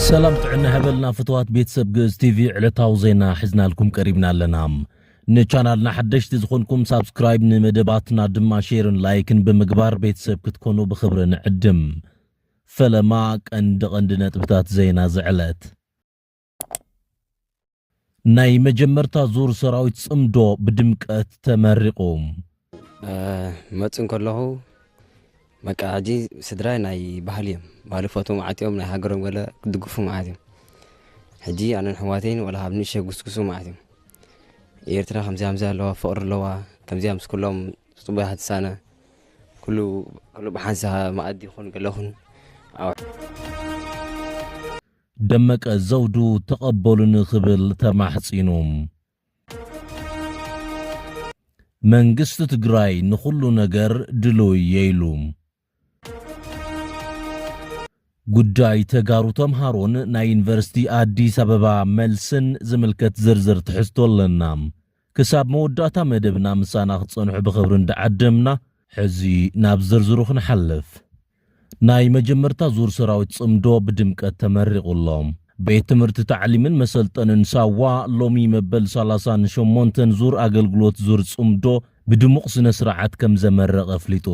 ሰላም ጥዕና ሀበልና ፍትዋት ቤተሰብ ግእዝ ቲቪ ዕለታዊ ዜና ሒዝናልኩም ቀሪብና ኣለና ንቻናልና ሓደሽቲ ዝኾንኩም ሳብስክራይብ ንመደባትና ድማ ሼርን ላይክን ብምግባር ቤተሰብ ክትኮኑ ብኽብሪ ንዕድም ፈለማ ቀንዲ ቀንዲ ነጥብታት ዜና ዝዕለት ናይ መጀመርታ ዙር ሰራዊት ጽምዶ ብድምቀት ተመሪቑ። ክመጽእ እንከለኹ በቃ ሕጂ ስድራይ ናይ ባህሊ እዮም ባህሊ ክፈትዉ ማለት እዮም ናይ ሃገሮም ገለ ክድግፉ ማለት እዮም ሕጂ ኣነን ኣሕዋተይን ወላ ካብ ንእሽተይ ክጉስጉሱ ማለት እዮም ኤርትራ ከምዚ ከምዚ ኣለዋ ፍቕሪ ኣለዋ ከምዚኣ ምስ ኩሎም ጽቡቕ እያ ትሳነ ኩሉ ኩሉ ብሓንሳብ መኣዲ ይኹን ገለ ይኹን ደመቀ ዘውዱ ተቐበሉኒ ክብል ተማሕጺኑ። መንግስቲ ትግራይ ንኹሉ ነገር ድሉው እየ ኢሉ። ጉዳይ ተጋሩ ተምሃሮን ናይ ዩኒቨርሲቲ ኣዲስ ኣበባ መልስን ዝምልከት ዝርዝር ትሕዝቶ ኣለና። ክሳብ መወዳእታ መደብና ምሳና ክትጸንሑ ብኽብሪ እንዳዓደምና፣ ሕዚ ናብ ዝርዝሩ ክንሓልፍ። ናይ መጀመርታ ዙር ሰራዊት ጽምዶ ብድምቀት ተመሪቑ ኣሎ። ቤት ትምህርቲ ታዕሊምን መሰልጠንን ሳዋ ሎሚ መበል ሰላሳን ሸሞንተን ዙር ኣገልግሎት ዙር ጽምዶ ብድሙቕ ስነ ስርዓት ከምዘመረቐ ኣፍሊጡ።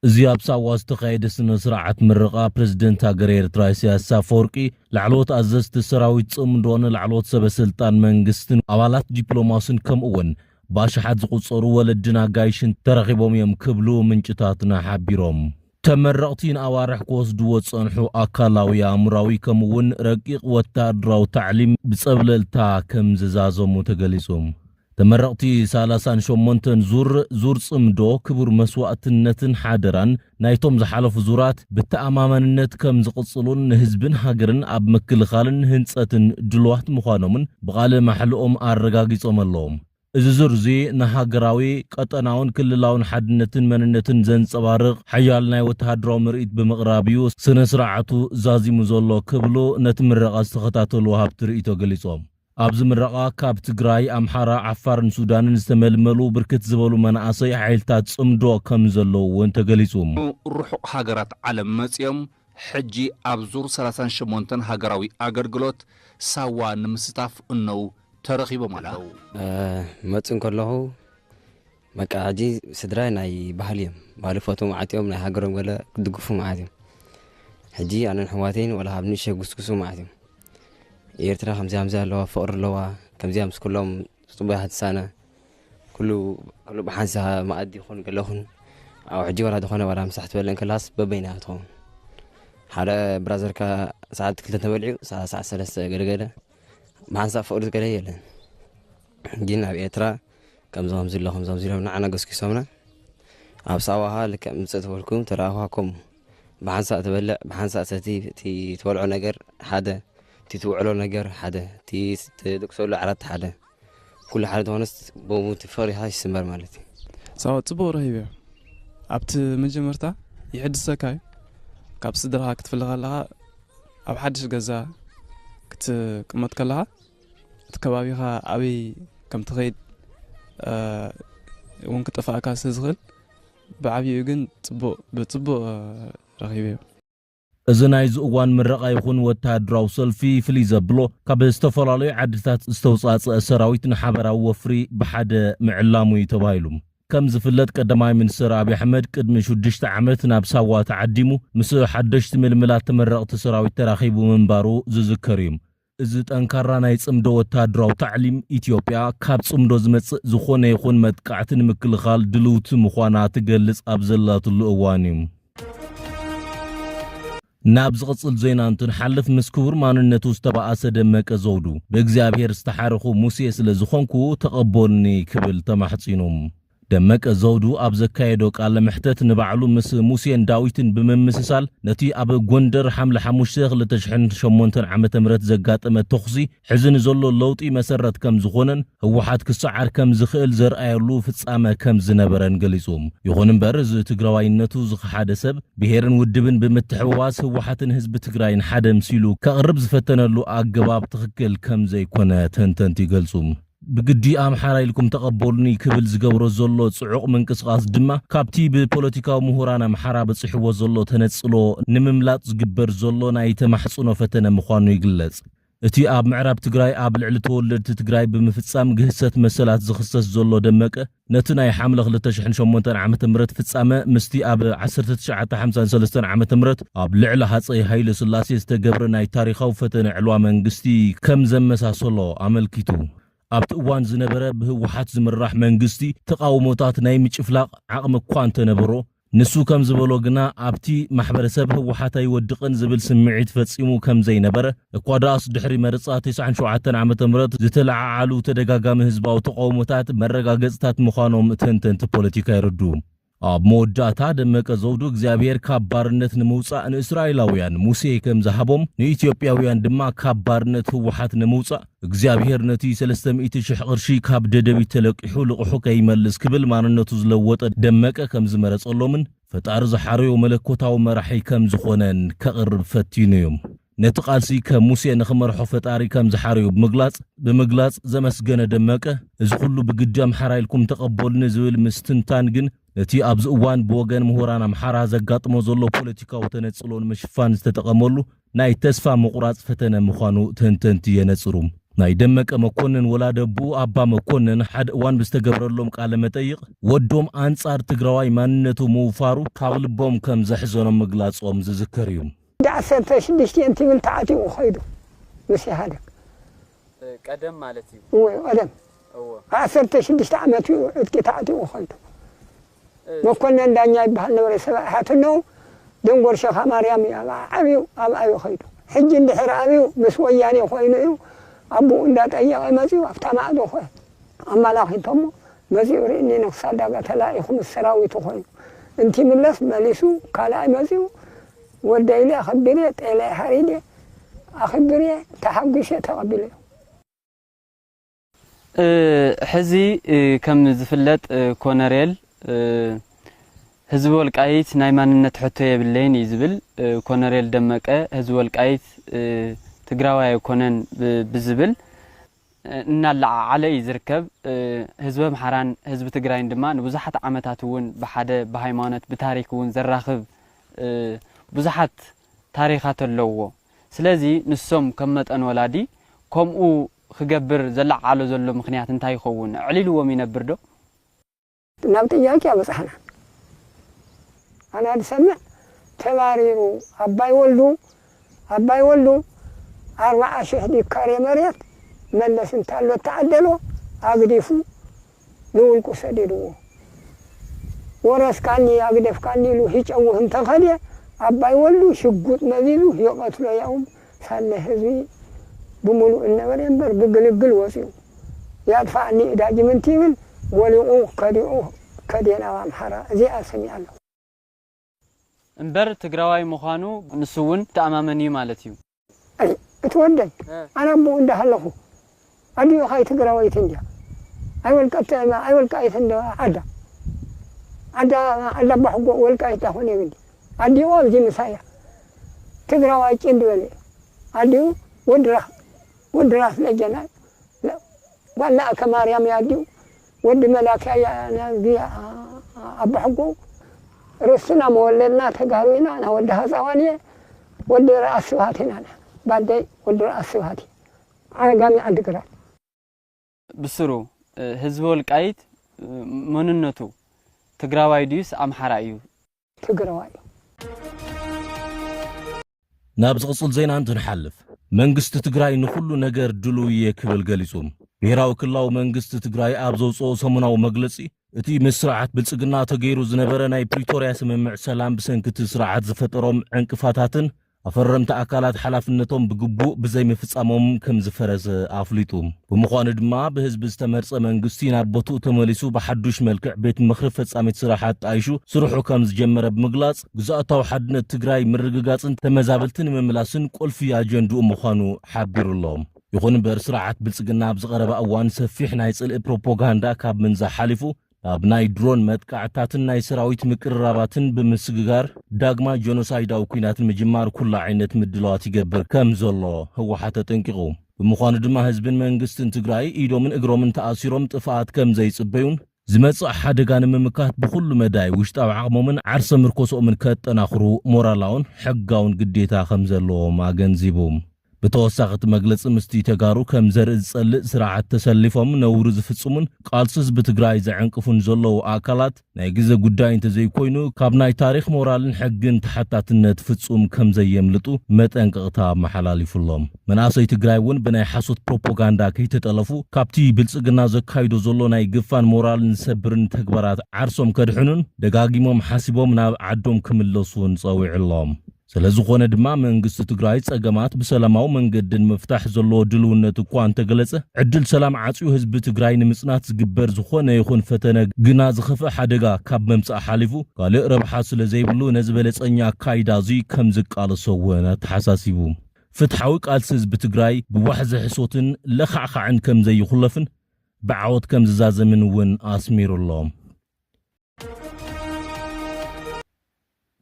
እዚ ኣብ ሳዋ ዝተኻየደ ስነ ስርዓት ምረቓ ፕረዚደንት ሃገረ ኤርትራ ኢሳያስ ኣፈወርቂ፣ ላዕለዎት ኣዘዝቲ ሰራዊት ጽምዶን ላዕለዎት ሰበ ስልጣን መንግስትን ኣባላት ዲፕሎማስን ከምኡ'ውን ብኣሽሓት ዝቑጸሩ ወለድን ኣጋይሽን ተረኺቦም እዮም ክብሉ ምንጭታትና ሓቢሮም። ተመረቕቲ ንኣዋርሕ ክወስድዎ ዝጸንሑ ኣካላዊ፣ ኣእምሮኣዊ ከምኡ'ውን ረቂቕ ወተሃደራዊ ታዕሊም ብጸብለልታ ከምዝዛዘሙ ተገሊጹ። ተመረቕቲ ሳላሳን ሸሞንተን ዙር፣ ዙር ጽምዶ፣ ክቡር መስዋእትነትን ሓደራን ናይቶም ዝሓለፉ ዙራት ብተኣማማንነት ከም ዝቕጽሉን ንህዝብን ሃገርን ኣብ ምክልኻልን ህንጸትን ድሉዋት ምዃኖምን ብቓለ ማሕልኦም ኣረጋጊጾም ኣለዎም። እዚ ዙር'ዚ ንሃገራዊ፣ ቀጠናውን ክልላውን ሓድነትን መንነትን ዘንጸባርቕ ሓያል ናይ ወተሃደራዊ ምርኢት ብምቕራብ'ዩ ስነ-ስርዓቱ ዛዚሙ ዘሎ ክብሉ ነቲ ምረቓ ዝተኸታተሉ ወሃብቲ ርእይቶ ገሊጾም። ኣብዚ ምረቓ ካብ ትግራይ፣ ኣምሓራ፣ ዓፋርን ሱዳንን ዝተመልመሉ ብርክት ዝበሉ መናእሰይ ሓይልታት ፅምዶ ከምዘለዉ እውን ተገሊፁ። ርሑቕ ሃገራት ዓለም መፂኦም ሕጂ ኣብ ዙር ሰላሳን ሸሞንተን ሃገራዊ ኣገልግሎት ሳዋ ንምስታፍ እነዉ ተረኺቦም ኣለዉ። መፅእ እንከለኹ በቃ ሕጂ ስድራይ ናይ ባህሊ እዮም ባህሊ ፈትዎም ዓጢዮም ናይ ሃገሮም ገለ ክድግፉ መዓት እዮም ሕጂ ኣነን ሕዋተይን ወላ ካብ ንእሸ ጉስጉሱ መዓት እዮም ኤርትራ ከምዚ ከምዚ ኣለዋ ፍቕሪ ኣለዋ ከምዚኣ ምስ ኩሎም ጽቡያት ትሳነ ኩሉ ኩሉ ብሓንሳ መኣዲ ይኹን ገለ ይኹን ኣብ ሕጂ ወላ ዝኾነ ወላ ምሳሕ ትበልዕ ከላስ በበይና ትኸውን ሓደ ብራዘርካ ሰዓት ክልተ ተበልዑ ሰዓት ሰለስተ ገለገለ ብሓንሳ ፍቕሪ ዝገለ የለን ግን ኣብ ኤርትራ ከምዚ ከምዚ ኣሎ ከምዚ ከምዚ ኢሎም ንዓና ገስጊሶምና ኣብ ሳዋ ከኣ ልክዕ ምጽእ ተበልኩም ተራኣኳኩም ብሓንሳእ ትበልዕ ብሓንሳእ ሰቲ እቲ ትበልዖ ነገር ሓደ እቲ ትውዕሎ ነገር ሓደ እቲ ትድቅሰሉ ዓራት ሓደ ኩሉ ሓደ ተኾነስ ብኡ እቲ ፈሪኻ ይስመር ማለት እዩ ሳዋ ጽቡቕ ረሂብ እዩ ኣብቲ መጀመርታ ይሕድሰካ እዩ ካብ ስድራኻ ክትፍለ ከለኻ ኣብ ሓድሽ ገዛ ክትቅመጥ ከለኻ እቲ ከባቢኻ ኣበይ ከም ትኸይድ እውን ክጠፋእካ ስለ ዝኽእል ብዓብይኡ ግን ፅቡቕ ብፅቡቕ ረኺበዮ እዚ ናይዚ እዋን ምረቓ ይኹን ወተሃደራዊ ሰልፊ ፍልይ ዘብሎ ካብ ዝተፈላለዩ ዓድታት ዝተውፃእፀአ ሰራዊት ንሓበራዊ ወፍሪ ብሓደ ምዕላሙ እዩ ተባሂሉ። ከም ዝፍለጥ ቀዳማይ ሚኒስትር ኣብይ ኣሕመድ ቅድሚ ሽዱሽተ ዓመት ናብ ሳዋ ተዓዲሙ ምስ ሓደሽቲ ምልምላት ተመረቕቲ ሰራዊት ተራኺቡ ምንባሩ ዝዝከር እዩ። እዚ ጠንካራ ናይ ጽምዶ ወተሃደራዊ ታዕሊም፣ ኢትዮጵያ ካብ ጽምዶ ዝመጽእ ዝኾነ ይኹን መጥቃዕቲ ንምክልኻል ድልውቲ ምዃና ትገልጽ ኣብ ዘላትሉ እዋን'ዩ። ናብ ዝቕጽል ዜና እንትንሓልፍ፣ ምስ ክቡር ማንነቱ ዝተባኣሰ ደመቀ ዘውዱ፣ ብእግዚኣብሄር ዝተሓረኹ ሙሴ ስለ ዝኾንኩ ተቐቦልኒ ክብል ተማሕጺኑ። ደመቀ ዘውዱ ኣብ ዘካየዶ ቃለ መሕተት ንባዕሉ ምስ ሙሴን ዳዊትን ብምምስሳል ነቲ ኣብ ጎንደር ሓምለ ሓሙሽተ ክልተ ሽሕን ሸሞንተን ዓመተ ምህረት ዘጋጠመ ተኹሲ ሕዚ ንዘሎ ለውጢ መሰረት ከምዝኾነን ህወሓት ክሰዓር ከምዝኽእል ዘርኣየሉ ፍፃመ ከምዝነበረን ገሊፁ። ይኹን እምበር እዚ ትግራዋይነቱ ዝኸሓደ ሰብ ብሄርን ውድብን ብምትሕውዋስ ህወሓትን ህዝቢ ትግራይን ሓደ ምሲሉ ከቕርብ ዝፈተነሉ ኣገባብ ትኽክል ከምዘይኮነ ተንተንቲ ይገልፁ። ብግዲ ኣምሓራይ ኢልኩም ተቐበሉኒ ክብል ዝገብሮ ዘሎ ጽዑቕ ምንቅስቓስ ድማ ካብቲ ብፖለቲካዊ ምሁራን ኣምሓራ በጺሕዎ ዘሎ ተነጽሎ ንምምላጥ ዝግበር ዘሎ ናይ ተማሕጽኖ ፈተነ ምዃኑ ይግለጽ። እቲ ኣብ ምዕራብ ትግራይ ኣብ ልዕሊ ተወለድቲ ትግራይ ብምፍጻም ግህሰት መሰላት ዝኽሰስ ዘሎ ደመቀ፣ ነቲ ናይ ሓምለ ክልተ ሽሕን ሸሞንተን ዓመተ ምህረት ፍጻመ ምስቲ ኣብ ዓሰርተ ትሽዓተ ሓምሳን ሰለስተን ዓመተ ምህረት ኣብ ልዕሊ ሃጸይ ሃይለስላሴ ዝተገብረ ናይ ታሪኻዊ ፈተነ ዕልዋ መንግስቲ ከም ዘመሳሰሎ ኣመልኪቱ። ኣብቲ እዋን ዝነበረ ብህወሓት ዝምራሕ መንግስቲ ተቓውሞታት ናይ ምጭፍላቕ ዓቕሚ እኳ እንተነበሮ፣ ንሱ ከም ዝበሎ ግና ኣብቲ ማሕበረሰብ ህወሓት ኣይወድቕን ዝብል ስምዒት ፈፂሙ ከም ዘይነበረ፣ እኳ ደኣስ ድሕሪ መርፃ ተስዓን ሸውዓተን ዓመተ ምህረት ዝተለዓዓሉ ተደጋጋሚ ህዝባዊ ተቓውሞታት መረጋገፅታት ምዃኖም ተንተንቲ ፖለቲካ የረድኡ። ኣብ መወዳእታ ደመቀ ዘውዱ እግዚኣብሄር ካብ ባርነት ንምውፃእ ንእስራኤላውያን ሙሴ ከም ዝሃቦም ንኢትዮጵያውያን ድማ ካብ ባርነት ህወሓት ንምውፃእ እግዚኣብሄር ነቲ ሰለስተ ሚእቲ ሽሕ ቅርሺ ካብ ደደቢት ተለቂሑ ልቕሑ ከይመልስ ክብል ማንነቱ ዝለወጠ ደመቀ ከምዝመረጸሎምን ፈጣሪ ዝሓረዮ መለኮታዊ መራሒ ከምዝኾነን ከቕርብ ፈቲኑ እዩ። ነቲ ቃልሲ ከም ሙሴ ንኽመርሖ ፈጣሪ ከምዝሓረዮ ብምግላጽ ብምግላጽ ዘመስገነ ደመቀ እዚ ኩሉ ብግዲ ኣምሓራይ ኢልኩም ተቐበሉኒ ዝብል ምስትንታን ግን ነቲ ኣብዚ እዋን ብወገን ምሁራን ኣምሓራ ዘጋጥሞ ዘሎ ፖለቲካዊ ተነጽሎ ንምሽፋን ዝተጠቐመሉ ናይ ተስፋ ምቑራጽ ፈተነ ምዃኑ ተንተንቲ የነጽሩ። ናይ ደመቀ መኮንን ወላደ'ቡኡ ኣባ መኮንን ሓደ እዋን ብዝተገብረሎም ቃለ መጠይቕ፣ ወዶም ኣንጻር ትግራዋይ ማንነቱ ምውፋሩ ካብ ልቦም ከም ዘሕዘኖም ምግላጾም ዝዝከር እዩ። ክንዲ ዓሰርተ ሽዱሽተ እንትብል ተዓጢቑ ከይዱ ምስ ኢህኣደግ። ቀደም ማለት እዩ። እወ ቀደም። እወ። ዓሰርተ ሽዱሽተ ዓመት እዩ ዕጥቂ ተዓጢቑ ከይዱ። መኮነን ዳኛ ይበሃል ነበረ ሰብኣይ ሓትኖ ደንጎር ሸኻ ማርያም እዩ ኣብኣ ዓብዩ ኣብኣ እዩ ከይዱ ሕጂ እንድሕር ኣብዩ ምስ ወያኔ ኮይኑ እዩ ኣቡኡ እንዳጠየቀ መጺኡ ኣብታ ማዕዶ ኮ ኣማላኪቶሞ መጺኡ ሪእኒ ንክስ ኣዳጋ ተላኢኩ ምስ ሰራዊቱ ኮይኑ እንቲምለስ መሊሱ ካልኣይ መጺኡ ወደይ ኢለ ኣክቢሬ ጤለይ ሓሪዴ ኣክብሬ ተሓጉሼ ተቀቢለዮ። ሕዚ ከም ዝፍለጥ ኮነሬል ህዝቢ ወልቃይት ናይ ማንነት ሕቶ የብለይን እዩ ዝብል ኮነሬል ደመቀ ህዝቢ ወልቃይት ትግራዋይ ኣይኮነን ብዝብል እናለዓዓለ እዩ ዝርከብ። ህዝቢ ኣምሓራን ህዝቢ ትግራይን ድማ ንብዙሓት ዓመታት እውን ብሓደ ብሃይማኖት ብታሪክ እውን ዘራኽብ ብዙሓት ታሪኻት ኣለውዎ። ስለዚ ንሶም ከም መጠን ወላዲ ከምኡ ክገብር ዘለዓዕሎ ዘሎ ምኽንያት እንታይ ይኸውን? ኣዕሊሉዎም ይነብር ዶ? ናብ ጥያቄ ኣብጽሕና። ኣና ዝሰምዕ ተባሪሩ ኣባይ ወልዱ ኣባይ ወልዱ ኣርባዓ ሽሕ ዲካሬ መሬት መለስ እንታሎ እተዓደሎ ኣግዲፉ ብውልቁ ሰዲድዎ ወረስካኒ ኣግደፍካኒ ኢሉ ሂጨውህ እንተኸደ ኣባይ ወልዱ ሽጉጥ መዚዙ ይቐትሎ ያውም ሳለ ህዝቢ ብሙሉእ እነበረ እምበር ብግልግል ወፂኡ ያጥፋኣኒ እዳጅም እንትብል ወሊቑ ከዲዑ ከደ ናብ ኣምሓራ እዚኣ ሰሚዐ ኣለኹ። እምበር ትግራዋይ ምዃኑ ንሱ እውን ይተኣማመን እዩ ማለት እዩ። እቲ ወደይ ኣነ ኣቦኡ እንዳሃለኹ ኣዲኡ ኸኣ ትግራወይቲ እንድያ ኣይወልቀተእማ ኣይወልቃይት እንዶ ዓዳ ዓዳ ዓዳ ኣባሕጎኡ ወልቃይት ዳኾነ የብሊ ኣዲኡ ኣብዚ ምሳይ እያ ትግራዋይ ጭድ በለ እዩ ኣዲኡ ወዲ ራስ ወዲ ራስ ለጀና ጓል ለኣከ ማርያም እያ ኣዲኡ ወዲ መላኪ ኣያ ናዚ ኣቦሕጉ ርስትና መወለድና ተጋሩ ኢና ኣና ወዲ ሃፃዋን እየ ወዲ ርኣስ ስብሃት ኢና ኣና ባደይ ወዲ ርኣስ ስብሃት እየ ዓጋመ ዓዲ ግራት። ብስሩ ህዝቢ ወልቃይት መንነቱ ትግራዋይ ድዩስ ኣምሓራይ እዩ? ትግረዋይ እዩ። ናብ ዝቕፅል ዜና እንትንሓልፍ፣ መንግስቲ ትግራይ ንኹሉ ነገር ድሉው እየ ክብል ገሊፁ። ብሄራዊ ክልላዊ መንግስቲ ትግራይ ኣብ ዘውፅኦ ሰሙናዊ መግለፂ፣ እቲ ምስ ስርዓት ብልፅግና ተገይሩ ዝነበረ ናይ ፕሪቶርያ ስምምዕ ሰላም ብሰንኪ እቲ ስርዓት ዝፈጠሮም ዕንቅፋታትን ኣፈረምቲ ኣካላት ሓላፍነቶም ብግቡእ ብዘይምፍፃሞም ከምዝፈረሰ ኣፍሊጡ። ብምዃኑ ድማ ብህዝቢ ዝተመርፀ መንግስቲ ናብ ቦትኡ ተመሊሱ ብሓዱሽ መልክዕ ቤት ምኽሪ ፈፃሚት ስራሕ ኣጣይሹ ስርሑ ከምዝጀመረ ብምግላፅ፣ ግዝኣታዊ ሓድነት ትግራይ ምርግጋፅን ተመዛበልቲ ንምምላስን ቁልፊ ኣጀንድኡ ምዃኑ ሓቢሩ ኣሎ። ይኹን እምበር ስርዓት ብልፅግና ኣብዚ ቀረባ እዋን ሰፊሕ ናይ ፅልኢ ፕሮፖጋንዳ ካብ ምንዛሕ ሓሊፉ ኣብ ናይ ድሮን መጥቃዕትታትን ናይ ሰራዊት ምቅርራባትን ብምስግጋር ዳግማ ጀኖሳይዳዊ ኲናት ንምጅማር ኩሉ ዓይነት ምድላዋት ይገብር ከም ዘሎ ህወሓት ኣጠንቂቑ። ብምዃኑ ድማ ህዝብን መንግስትን ትግራይ ኢዶምን እግሮምን ተኣሲሮም ጥፍኣት ከም ዘይፅበዩን ዝመፅእ ሓደጋ ንምምካት ብኹሉ መዳይ ውሽጣዊ ዓቕሞምን ዓርሰ ምርኮስኦምን ከጠናኽሩ ሞራላውን ሕጋውን ግዴታ ከም ዘለዎም ኣገንዚቡ። ብተወሳኺ እቲ መግለፂ ምስቲ ተጋሩ ከም ዘርኢ ዝፀልእ ስርዓት ተሰሊፎም ነውሪ ዝፍፅሙን ቃልሲ ህዝቢ ትግራይ ዘዐንቅፉን ዘለዉ ኣካላት ናይ ግዘ ጉዳይ እንተዘይኮይኑ ካብ ናይ ታሪኽ ሞራልን ሕግን ተሓታትነት ፍፁም ከም ዘየምልጡ መጠንቀቕታ ኣመሓላሊፉ ኣሎ። መናእሰይ ትግራይ እውን ብናይ ሓሶት ፕሮፖጋንዳ ከይተጠለፉ ካብቲ ብልፅግና ዘካይዶ ዘሎ ናይ ግፋን ሞራልን ዝሰብርን ተግባራት ዓርሶም ከድሕኑን ደጋጊሞም ሓሲቦም ናብ ዓዶም ክምለሱን ፀዊዑ ኣሎ። ስለዝኾነ ድማ መንግስቲ ትግራይ ፀገማት ብሰላማዊ መንገዲ ንምፍታሕ ዘለዎ ድልውነት እኳ እንተገለፀ ዕድል ሰላም ዓፅዩ ህዝቢ ትግራይ ንምፅናት ዝግበር ዝኾነ ይኹን ፈተነ ግና ዝኸፍእ ሓደጋ ካብ ምምፃእ ሓሊፉ ካልእ ረብሓ ስለዘይብሉ ነዚ በለፀኛ ኣካይዳ እዙይ ከምዝቃለሶ እውን ኣተሓሳሲቡ። ፍትሓዊ ቃልሲ ህዝቢ ትግራይ ብዋሕዚ ሕሶትን ለኻዕኻዕን ከምዘይኹለፍን ብዓወት ከምዝዛዘምን እውን ኣስሚሩ ኣሎ።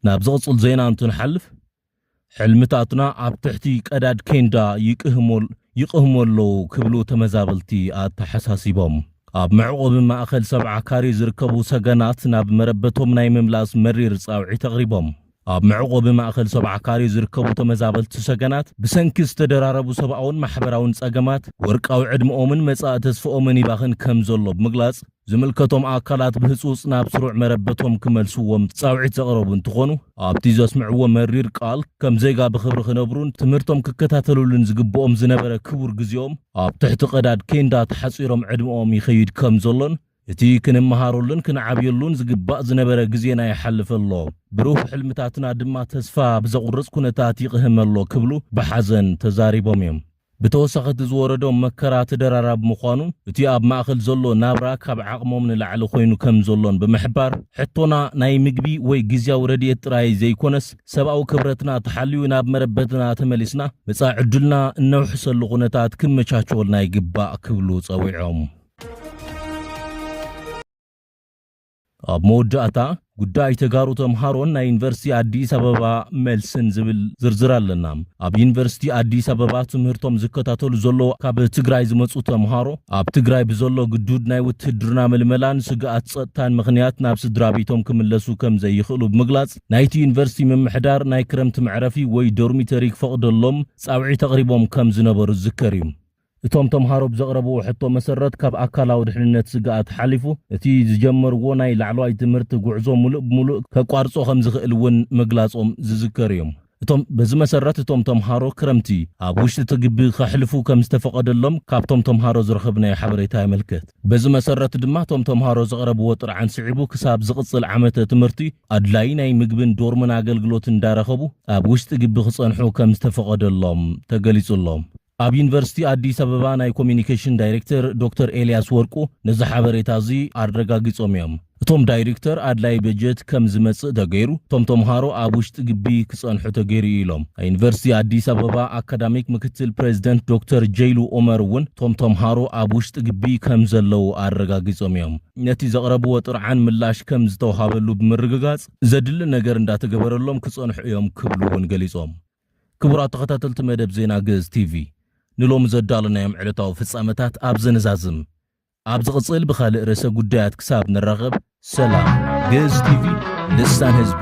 ናብ ዝቕጽል ዜና እንትንሓልፍ ሕልምታትና ኣብ ትሕቲ ቀዳድ ኬንዳ ይቅህሞል ይቕህሙ ኣለዉ ክብሉ ተመዛበልቲ ኣተሓሳሲቦም። ኣብ መዕቖቢ ማእኸል ሰብዓ ካሬ ዝርከቡ ሰገናት ናብ መረበቶም ናይ ምምላስ መሪር ጻውዒት ኣቕሪቦም። ኣብ መዕቖቢ ማእከል ሰብዓ ካሬ ዝርከቡ ተመዛበልቲ ሰገናት ብሰንኪ ዝተደራረቡ ሰብኣውን ማሕበራውን ጸገማት ወርቃዊ ዕድመኦምን መጻኢ ተስፍኦምን ይባኽን ከምዘሎ ብምግላጽ ዝምልከቶም ኣካላት ብህጹጽ ናብ ስሩዕ መረበቶም ክመልስዎም ጻውዒት ዘቕረቡ እንትኾኑ ኣብቲ ዘስምዕዎ መሪር ቃል ከም ዜጋ ብኽብሪ ክነብሩን ትምህርቶም ክከታተልሉን ዝግብኦም ዝነበረ ክቡር ግዜኦም ኣብ ትሕቲ ቀዳድ ኬንዳ ተሓጺሮም ዕድመኦም ይኸይድ ከምዘሎን እቲ ክንመሃረሉን ክንዓብየሉን ዝግባእ ዝነበረ ግዜና ይሓልፍ ኣሎ፣ ብሩህ ሕልምታትና ድማ ተስፋ ብዘቑርፅ ኩነታት ይቕህም ኣሎ ክብሉ ብሓዘን ተዛሪቦም እዮም። ብተወሳኺ እቲ ዝወረዶም መከራ ተደራራቢ ምዃኑ፣ እቲ ኣብ ማእኸል ዘሎ ናብራ ካብ ዓቕሞም ንላዕሊ ኮይኑ ከም ዘሎን ብምሕባር፣ ሕቶና ናይ ምግቢ ወይ ግዝያዊ ረድኤት ጥራይ ዘይኮነስ ሰብኣዊ ክብረትና ተሓልዩ ናብ መረበትና ተመሊስና መፃኢ ዕድልና እነውሕሰሉ ኩነታት ክመቻቸወልና ይግባእ ክብሉ ፀዊዖም። ኣብ መወዳእታ ጉዳይ ተጋሩ ተምሃሮን ናይ ዩኒቨርሲቲ ኣዲስ ኣበባ መልስን ዝብል ዝርዝር ኣለና። ኣብ ዩኒቨርሲቲ ኣዲስ ኣበባ ትምህርቶም ዝከታተሉ ዘለዉ ካብ ትግራይ ዝመፁ ተምሃሮ ኣብ ትግራይ ብዘሎ ግዱድ ናይ ውትህድርና ምልመላን ስግኣት ፀጥታን ምክንያት ናብ ስድራ ቤቶም ክምለሱ ከም ዘይኽእሉ ብምግላፅ ናይቲ ዩኒቨርሲቲ ምምሕዳር ናይ ክረምቲ መዕረፊ ወይ ዶርሚተሪ ክፈቕደሎም ፃውዒት ኣቕሪቦም ከም ዝነበሩ ዝዝከር እዩ። እቶም ተምሃሮ ብዘቕረብዎ ሕቶ መሰረት ካብ ኣካላዊ ድሕንነት ስግኣት ሓሊፉ እቲ ዝጀመርዎ ናይ ላዕለዋይ ትምህርቲ ጉዕዞ ሙሉእ ብሙሉእ ከቋርፆ ከምዝኽእል እውን ምግላፆም ዝዝከር እዩ። እቶም በዚ መሰረት እቶም ተምሃሮ ክረምቲ ኣብ ውሽጢ እቲ ግቢ ከሕልፉ ከምዝተፈቐደሎም ካብቶም ተምሃሮ ዝረኸብናዮ ሓበሬታ የመልክት። በዚ መሰረት ድማ እቶም ተምሃሮ ዘቕረብዎ ጥርዓን ስዒቡ ክሳብ ዝቕፅል ዓመተ ትምህርቲ ኣድላዪ ናይ ምግብን ዶርምን ኣገልግሎት እንዳረኸቡ ኣብ ውሽጢ ግቢ ክፀንሑ ከምዝተፈቐደሎም ተገሊፁ ኣሎ። ኣብ ዩኒቨርሲቲ ኣዲስ ኣበባ ናይ ኮሚኒኬሽን ዳይሬክተር ዶክተር ኤልያስ ወርቁ ነዚ ሓበሬታ እዚ ኣረጋጊፆም እዮም። እቶም ዳይሪክተር ኣድላይ በጀት ከም ዝመፅእ ተገይሩ እቶም ተምሃሮ ኣብ ውሽጢ ግቢ ክፀንሑ ተገይሩ እዩ ኢሎም። ናይ ዩኒቨርሲቲ ኣዲስ ኣበባ ኣካዳሚክ ምክትል ፕሬዚደንት ዶክተር ጀይሉ ኡመር እውን እቶም ተምሃሮ ኣብ ውሽጢ ግቢ ከም ዘለዉ ኣረጋጊፆም እዮም። ነቲ ዘቕረብዎ ጥርዓን ምላሽ ከም ዝተውሃበሉ ብምርግጋፅ ዘድሊ ነገር እንዳተገበረሎም ክፀንሑ እዮም ክብሉ እውን ገሊፆም። ክቡራት ተኸታተልቲ መደብ ዜና ግእዝ ቲቪ፣ ንሎሚ ዘዳሎናዮም ዕለታዊ ፍጻመታት ኣብዚ ንዛዝም። ኣብ ዝቕጽል ብኻልእ ርእሰ ጉዳያት ክሳብ ንራኸብ ሰላም። ግእዝ ቲቪ ልሳን ህዝቢ።